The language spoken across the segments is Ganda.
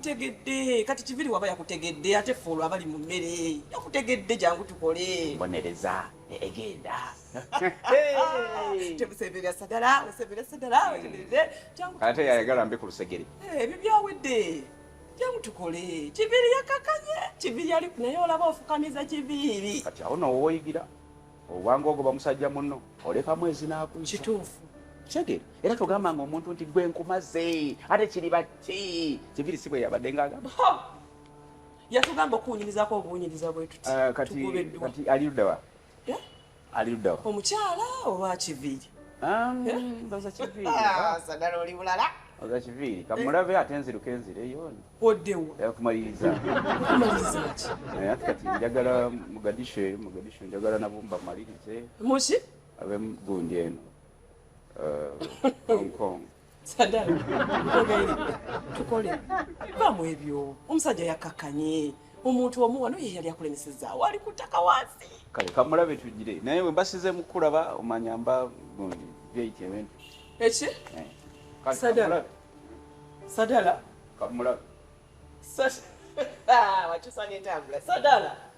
yakutegedde kati kiviri waba yakutegedde ate ffe olwo abali mu mmere yakutegedde jangu tukole bonereza egenda temuseberera sagala oseberera sagala ate yayagala mbi ku lusegere eh, ebyo byawedde tukole kibiri yakakanye kibiri yali naye olaba ofukamiza kibiri kati awo nawo woyigira obwanga ogo bamusajja munno oleka mwezi nakuisa kituufu kitegeera era togamba nga omuntu nti gwe nkumaze ate kiri bati kibiri si bwe yabadde nga agamba yatugamba okuwunyirizako obuwunyiriza bwetuti eh, kati ali ludawa eh? Ali ludda wa? Omukyala oba kiviiri? Um, eh? Baza kiviiri. Ah, sagala oli bulala. Baza kiviiri. Kamulabe eh. ate nziruka enzireyo. Oddewo. Yakumaliriza. Kumaliriza ki? Eh, ate kati njagala Mogadishu, Mogadishu njagala nabumba malirize. Muki? Abe gundi eno. Uh, Hong Kong. sadala ogaire tukole va mu ebyo omusajja yakkakkanye omuntu omu wano ye yali akulemesezaawo ali ku ttaka wansi kale kamulabe tugire naye bwe mbasize mu kulaba omanya mba byeyita ebintu eki eh. sadala sadala kamulabe wakyusa n'entambula sadala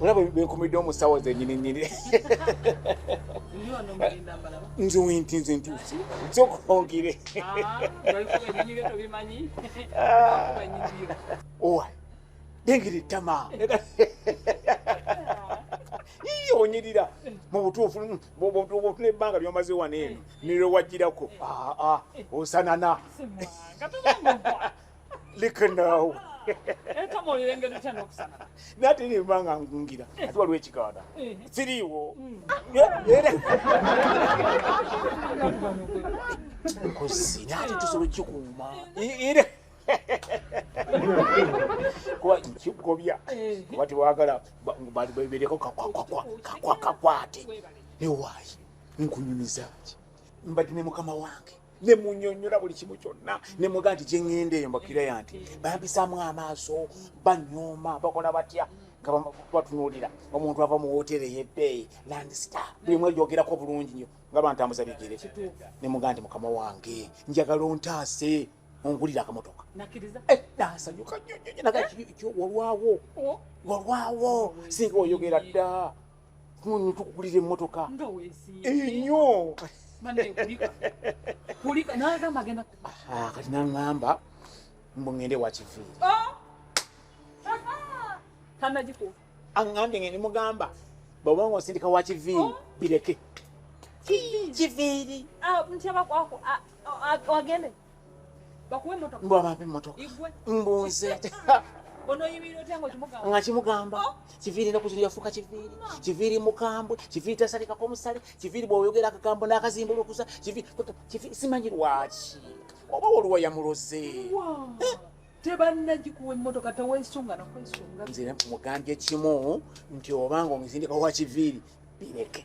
olaba bekumiddemu mu ssaawa zenyini nyini nze wentinze ntuusi nzokongere owa dengera ettama iye onyirira mu butuufu butuufu n'ebbanga lyomaze wano eno nirowajjirako osanana lika naawe nate nemba nga ngungira ati waliwo ekiganda siriiwo kozi nate tusobola ekikuuma era kuba nkigobya kuba tewagala bereko kakwakwate newaayi nkunyumizaaki mbadde ne mukama wange ne munyonyola buli kimu kyonna ne muga nti gye ŋŋenda eyo mbakira ya nti bampisaamu amaaso banyooma bakola batya nga batunuulira omuntu ava mu wooteeri ey'ebbeeyi landstar buli mwe gyogerako bulungi nnyo nga bantambuza bigere ne muga nti mukama wange njagala ontaase ongulira akamotoka eh, nasanyuka nyonyonyo naga eh? walwawo oh. walwawo singa oyogera dda kunyu tukugulira emmotoka enyo ah, kati naŋamba mbu ŋende wakiviiri oh! aŋambye ngende mugamba bwobanga osindika wakiviiri oh! bireke kiviiri ah, ah, bakuwe motoka mbu abampe motoka mbunze nga kimugamba oh. kiviiri nokuzino yafuuka kiviiri kiviiri mukambwe kiviiri tasalikako omusale kiviiri bwoyogera akagambo n'akazimbulukusa simanyi lwaki oba waliwo yamuloze eh? tebanagikuwa emotoka tewesunga nakwesunga nze mugambye kimu nti obanga omuzindika wa kiviiri bireke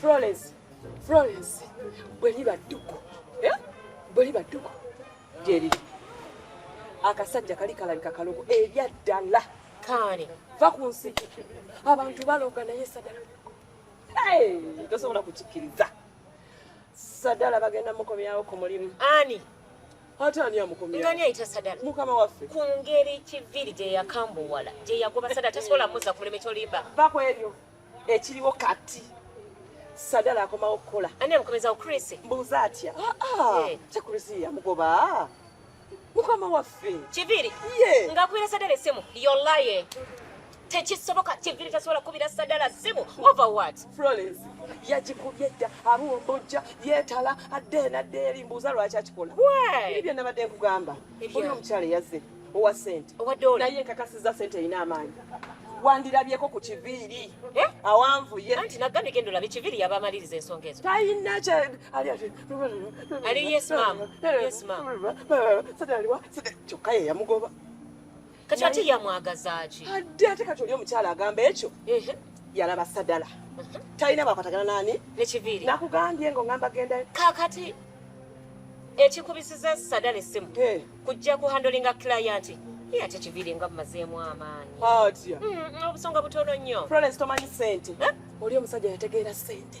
Florence, Florence, bwe liba dduku, eh? bwe liba dduku gyeriri akasajja kali kalabika kalogo ebyaddala kaane va ku nsi abantu baloga naye sadala tosobola kukikkiriza sadala bagenda mukomyawo ku mulimu ani ate ani amukomyani ayita sadala mukama waffe ku ngeri kiviri gye yakambuwala gye yagoba sadala tasobola muza ku mulimu ekyolimba va ku ebyo ekiriwo kati sadala akomawo okukola ani amukomezawo krisi mbuuza atya ah, ah. eh. kyekrisi yamugoba mukama waffe kiviri nga kubira sadala esimu yolaye tekisoboka kiviri tasobola kubira sadala simu over what florence yagikubye dda abumbujja yetala adde enadde eri mbuuza lwaki akikola biri bye nabadde nkugamba oli omukyala yazze owa sente naye nkakasiza sente erina amaanyi wandirabyeko ku kiviiri eh? awanvuye anti nagambye genda olabe kiviiri yabamaliriza ensonga ezo talina ali ati ali yes mam yes mam sadaliwa kyokka ye yamugoba kati ate yamwagazaaki adde ate kati oli omukyala agamba ekyo yalaba sadala talina bwakwatagana nani nekiviiri nakugambye nga ongamba genda kakati ekikubisiza sadala essimu kujja ku handolinga client ye ate kiviiri nga mumazeemu amaanyi obusonga butono nnyo florence tomanyi sente oli omusajja yategeera sente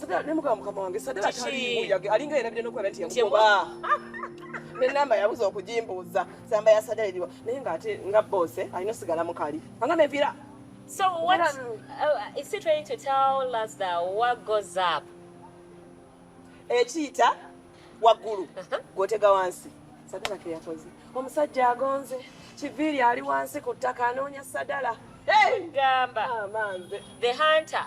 Sadala ne mugamba mukama wange Sadala Kiki? taliimu yage alinga yerabide nokuba nti Nti yakuba ne namba yabuza okugimbuuza samba ya Sadala eriwa naye ng'ate nga boose alina osigala mukali anga neviira So what Era- uh, is he trying to tell us that what goes up? ekiyita waggulu gwotega wansi sadala ke yakoze omusajja agonze kiviiri ali wansi ku ttaka anoonya sadala Hey! Gamba. Ah, manze The hunter.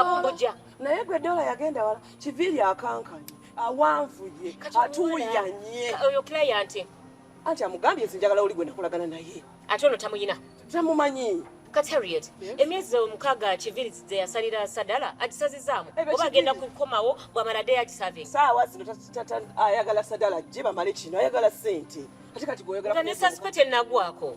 abumbuja naye gwe dola yagenda wala kiviri akankanye awanvuye atuyanye oyo client anti amugambye nze njagala oli gwe nakolagana naye ate ono tamuyina tamumanyi kati harriet emyezi omukaaga kiviri ze yasalira sadala agisazizaamu oba agenda kukomawo bwamala de yagisave saawa zino ayagala sadala je bamale kino ayagala sente ate kati gweoyagala ne sasipete nagwako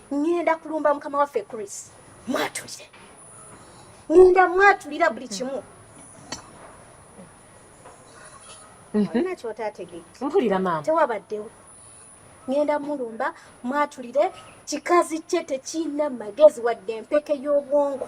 ngenda kulumba mukama waffe Chris mwatulire ngenda mwatulira buli kimu mhm. nakyo otategedde mpulira maama tewabaddewo ngenda mulumba mwatulire kikazi kye tekirina magezi wadde empeke y'obwongo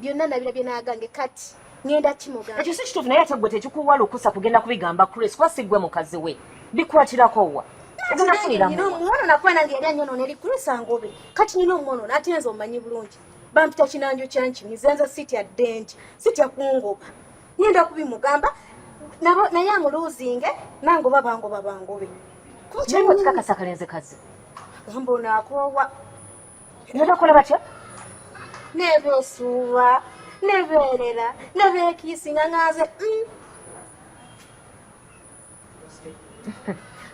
byonna nabira bye nagange kati ngenda kimugamba ekyo si kituufu naye ate gwe tekikuwa lukusa kugenda kubigamba chris kuba si gwe mukazi we bikwatirako wa omuwono nakuba nange yali anyonoona eri chris angobe kati nina omuwonoona ate nze omumanyi bulungi bampita kinanjo kyanki nizenza sitya dengi sitya kungoba ngenda kubimugamba naye amuluuzinge nange oba bangoba bangobe kikakasa kalenze kazi gamba onakoowa nebakola batya nebesuuba nebeerera nebekiisinga nga nze mm.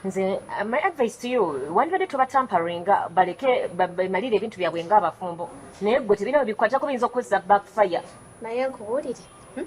nze uh, my advice to you wandibadde tobatamparinga baleke bemalire ebintu byabwe nga abafumbo naye gwe tebirina bikwatako biyinza okukozesa backfire naye nkubuulire hmm?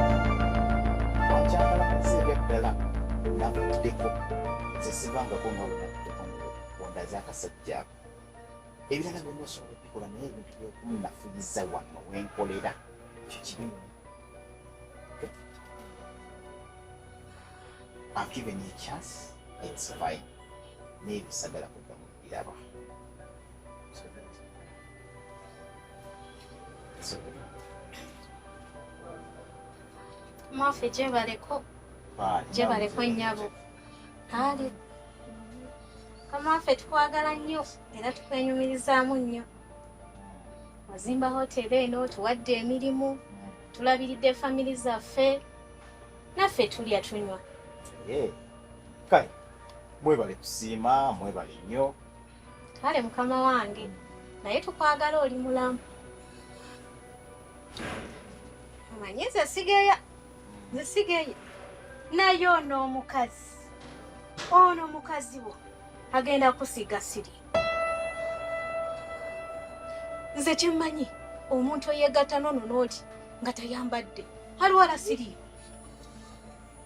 ebirala byonna osobola okubikola naye ebintu byokunafuyiza wano wenkolera ekyo kibi I've given you a chance, it's fine. Maybe Sagara Yaba. Mwafe gyebaleko gyebaleko nnyabo ali kamwaffe tukwagala nnyo era tukwenyumirizaamu nnyo wazimba hoteri eno tuwadde emirimu tulabiridde famiri zaffe naffe tulya tunywa kale Mwebale kusiima, mwebale nnyo. Kale mukama wange, naye tukwagala oli mulamu. Omanyi nze sigeya, nze sigeya. Naye ono omukazi, ono omukazi wo agenda kusiga siri. Nze kyemmanyi omuntu eyeegatta nono n'oli nga tayambadde aliwala siriyo.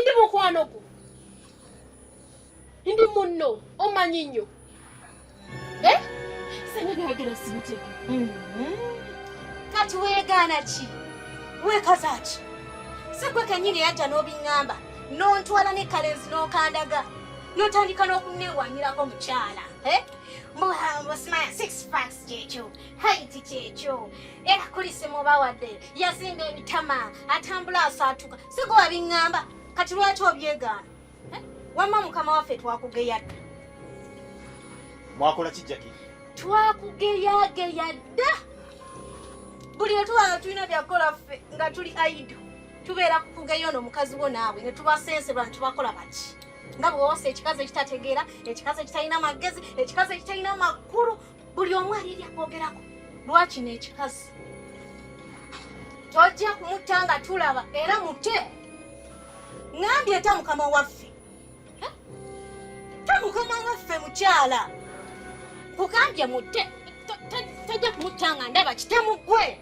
ndi mukwano gwo ndi munno omanyi nnyo eh? sena byayogera sibiteke mm-hmm. kati weegaana ki weekaza ki sigwe kennyini yajja n'obiŋŋamba n'ontwala ne kalenzi n'okandaga n'otandika n'okuneewanyirako mukyala eh? muhambusimaya six fax kyekyo haiti kyekyo era kulisimubawadde yazimba ebitama atambula asaatuka sigo wabiŋŋamba kati lwaki obyegaana eh? wamma mukama waffe twakugeya dda mwakola kijjaki twakugeyageya dda buli lwetuba nga tulina byakukola ffe nga tuli aido tubeera kukugeyo no mukazi wo naabwe netubasensebwa netubakola baki nga bwewasa ekikazi ekitategeera ekikazi ekitalina magezi ekikazi ekitalina makulu buli omu alirya kwogerako lwaki n'ekikazi tojja kumutta nga tulaba era mute ngambye eta mukama waffe ta mukama waffe mukyala kugambye mute tojja kumutta nga ndaba kitemugwe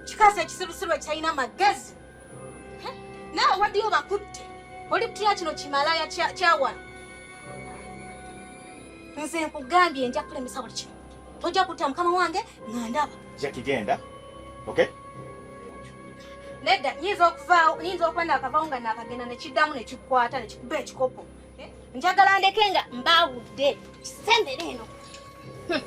kikazi ekisirusirwa kirina magezi naawe waddeyo bakutte oli kutya kino kimalaya kyawano nze nkugambye nja kulemesa buli kimu tojja kutta mukama wange nga ndaba jakigenda okay nedda nyinza okuvaawo nyinza okuba nakavawo nga nakagenda nekiddamu nekikwata nekikuba ekikopo Eh, njagala ndeke nga mbaawudde kisembere eno hmm.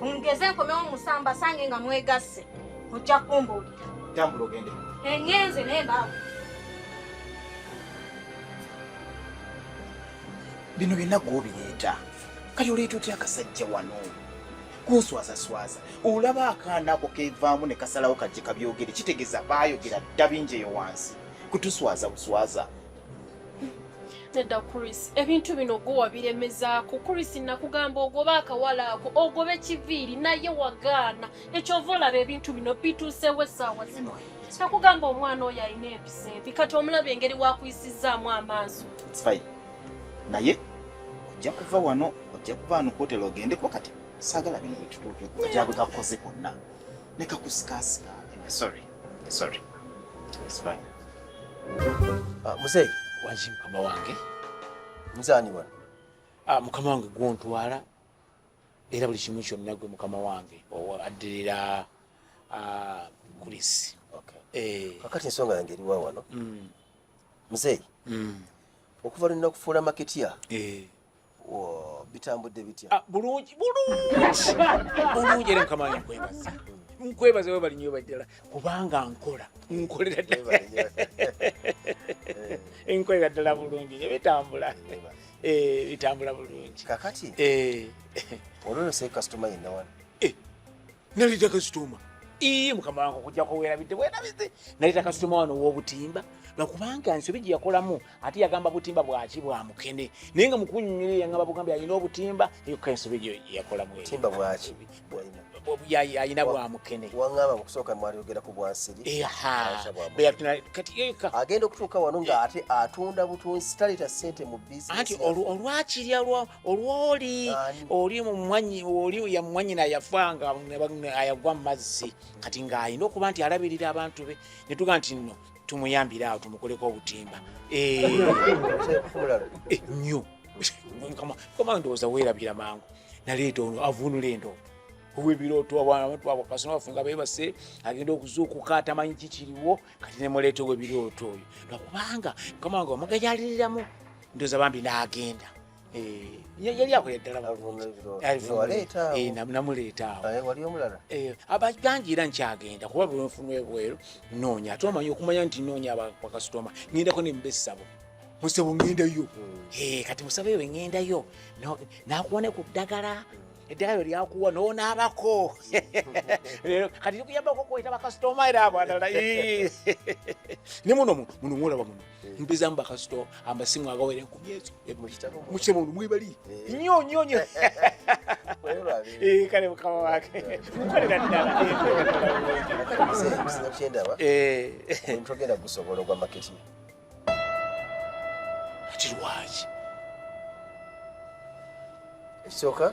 ongeze nkomewo musamba sange nga mwegasse ojja kumbuulira tambula ogende engenze naye mbaawu bino byonna gwobireeta kati oleeta otya akasajja wano kunswazaswaza olaba akaana ako kevaamu ne kasalawo kajje kabyogere kitegeeza baayogera dda bingi eyo wansi kutuswaza buswaza nedda chris ebintu bino gwe wabiremezaako chris nakugamba ogobe akawala ako ogobe kiviiri naye wagaana ekyova olaba ebintu bino bituusewo essaawa zino nakugamba omwana oyo alina empisa embi kati omulaba engeri wakuyisizzaamu amaaso naye ojja kuva wano ojja kuva wano kuotela ogendeko kati saagala bino bitutuuke ojja bwekakukoze konna nekakusikasika sorry Sorry. It's fine. Ah, mzee. Waji mkama wange. Mzani wana. Ah, mkama wange guontu wala. Era buli kimu kyonna gwe mukama wange addirira ah, kulisi eh. kakati ensonga yange eriwa wano mm. muzeeyi mm. okuva lwe nakufuula maketya eh. bitambudde bitya ah, bulungi bulungi bulungi era mukama wange nkwebaza nkwebaza webali nyo baddala kubanga nkola nkolera ddala eh. nkolera ddala bulungi nyo bitambula eh, bitambula bulungi kakati eh. olwono sekasitoma yenna wano naleta kasitoma ii mukama wange okujjako werabidde bwerabidde naleta kasitoma wano wobutimba nakubanga nsobi gye yakolamu ate yagamba butimba bwaki bwa mukene naye nga mukunyumire yangamba bugambi alina obutimba eka ensobi gye yakolamu timba bwaki alina bwa mukene wangamba mukusooka mwali ogera ku bwansiri agenda okutuuka wano nga ate atunda butunzi taleta sente mu bizinesi anti olwakirya olwoli oli mumwanyi oli yamwanyina yafanga ayagwa mumazzi kati ng'alina okuba nti alabirira abantu be netuga nti nno tumuyambire awo tumukoleko obutimba nyo kama ndowooza weerabira mangu naleeta ono avunula endooto owebirooto abaana abantu abo kasoma bafe nga beebase agenda okuzuukuka atamanyi kikiriwo kati nemuleeta owebirooto oyo lwakubanga kama wange omugayaliriramu ndoza bambi n'agenda eh, yali akola ddala namuleeta abangi era nkyagenda kuba bwenfunu ebweru noonya ate omanyi okumanya nti noonya bakasitoma ngendako nemba essabo musebo ngendayo hmm. eh, kati musabo ewe ngendayo nakuwa ne ku ddagala eddagala lyo lyakuwa nonaabako lero kati likuyambako kweta bakasitoma era abadala ne muno muno muno mwolaba muno Eh. mpeza mu bakasito amasimu agawera enkumi ezo eh, mukyemundu mwebali eh. nyo nyo nyo kale mukama wake mukolera ddalakyendabamutogenda gusobola ogwa maketi ati lwaki ekisooka